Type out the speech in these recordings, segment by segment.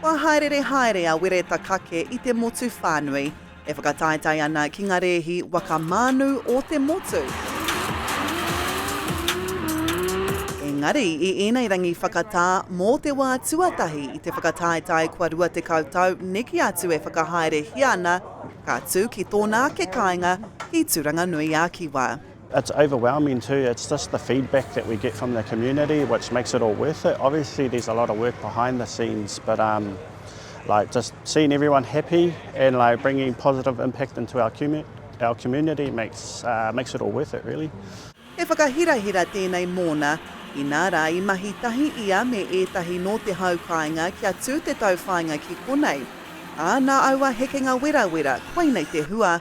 Kua hāereere haere a Wereta Kake i te motu whānui, e whakataetae ana ki ngā rēhi waka mānu o te motu. Engari, i ēnei rangi whakatā, mō te wā tuatahi i te whakataetae kua rua tekau tau neke atu e whakahaerehia ana, ka tū ki tōna ake kāinga ki Tūranganui-a-Kiwa. It's overwhelming too, it's just the feedback that we get from the community which makes it all worth it. Obviously there's a lot of work behind the scenes but um, like just seeing everyone happy and like bringing positive impact into our, com our community makes, uh, makes it all worth it really. He whakahirahira tēnei mōna, inā rā i mahi tahi ia me ētahi nō te hau kāinga kia tū te tauwhāinga ki konei. Ā, nā aua hekenga werawera, koinei te hua,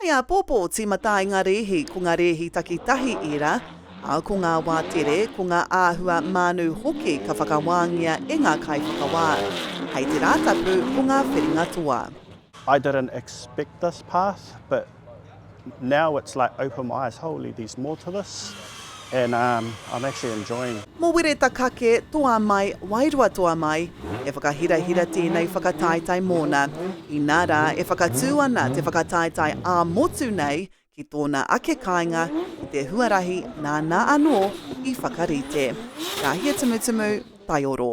Hei āpōpō tīmata ai ngā rēhi, ko ngā rēhi takitahi ērā, ā, ko ngā wā tere, ko ngā āhua mānu hoki ka whakawāngia e ngā kaiwhakawā. Hei te Rātapu, ko ngā whiringa toa. I didn't expect this path but now it's like open my eyes, holy there's more to this. And um I'm actually enjoying. Mo Wireta kake toa mai, wairua toa mai, e whakahirahira tēnei whakataetae mōna. Inā rā e whakatū ana te whakataetae ā-motu nei ki tōna ake kāinga i te huarahi nāna anō i whakarite. Ka hia tumutumu, taioro.